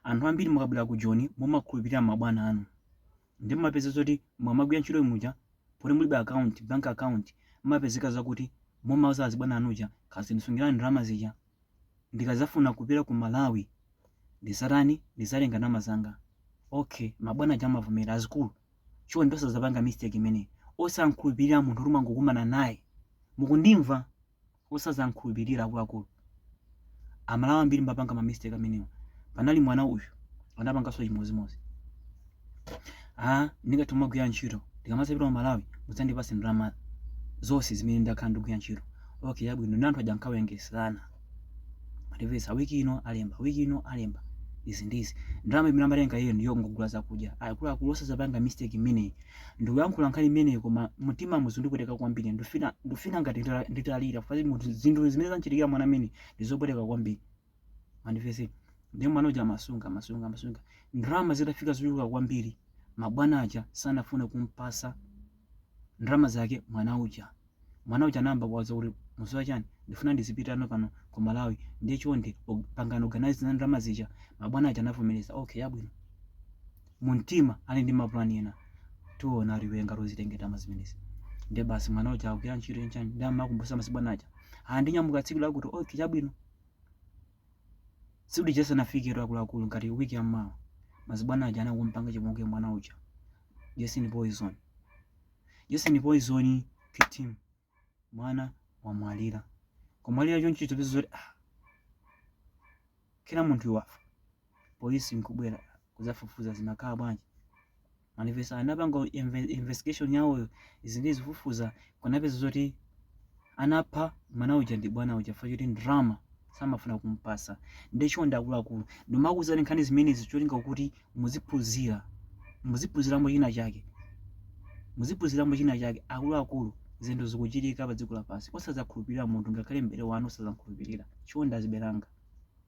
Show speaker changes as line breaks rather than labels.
Anthu ambiri mukabwera ku Joni mumakhulupirira mabwana anu nde mumapeza zoti mukamagwira ntchito muja poti mulibe account, bank account mmapezeka zakuti mumauza azibwana anu aja kazindisungirani ndalama zija ndikazafuna kupita ku Malawi ndizatani ndizatenga ndalama zanga ok mabwana aja amavomera azikulu chonde osazapanga mistake imeneyi osamkhulupirira munthu oti mwangokumana naye mukundimva Osazamkhulupirira akuluakulu amalawi ambiri mmapanga ma mistake amenewa panali mwana uyu anapangaso chimozimozi aa ndingathe kumagwira ntchito ndikamazapita ku malawi mudzandipase ndalama zose zimene ndakhala ndikugwira ntchito ok chabwino nde anthu aja ankawerengeselana mandimvetsa wiki ino alemba wiki ino alemba izi ndizi ndalama imene amatenga iyeyo ndiyongogula zakudya akuluakulu osazapanga mistake imeneyi Ndikuyankhula nkhani imeneyi koma mumtimamu zikundipweteka kwambiri. Ndifuna ndifuna ngati ndita- nditalira chifukwa munthu zinthu zimene zamchitikira mwana amene ndizopweteka kwambiri. Mundimvetse. Ndiye mwana uja amasunga amasunga amasunga. Ndalama zitafika zochuluka kwambiri mabwana aja sanafune kumpasa ndalama zake mwana uja. Mwana uja anayamba kuwauza kuti mukudziwa chani ndifuna ndizipita ano pano ku Malawi ndiye chonde pangani organise za ndalama zija. Mabwana aja anavomereza okay yabwino. Mumtima ali ndi mapulani ena tiona iwe ngati uzatenge ndalama zimenezi. Ndiye basi mwana uja akugwira ntchito chani chani ndiye amakumbutsa basi bwana aja ah ndinyamuka tsiku lakuti okay chabwino. Tsiku lija lisanafike akuluakulu ngati wiki yammawa mazibwana aja anangompanga chipongwe mwana uja chonchi poison. Chonchi poison phiti. Mwana wamwalira. Kumwalira chonchi atapeza zoti ah. Kila munthu wafa. Polisi nkubwera kuzafufuza zinakhala bwanji. Mandimvetsa anapanga investigation yawo izi ndi izi kufufuza kunapeza zoti anapha mwana uja ndi bwana uja chifukwa choti ndalama samafuna kumpasa nde chonde akuluakulu ndimakuuzani nkhani zimenezi cholinga kuti muziphunzira muziphunziramo china chake muziphunziramo china chake akuluakulu zinthu zikuchitika pa dziko lapansi osazakhulupirira munthu ngakhale mbale wanu osazamkhulupirira chonde azibale anga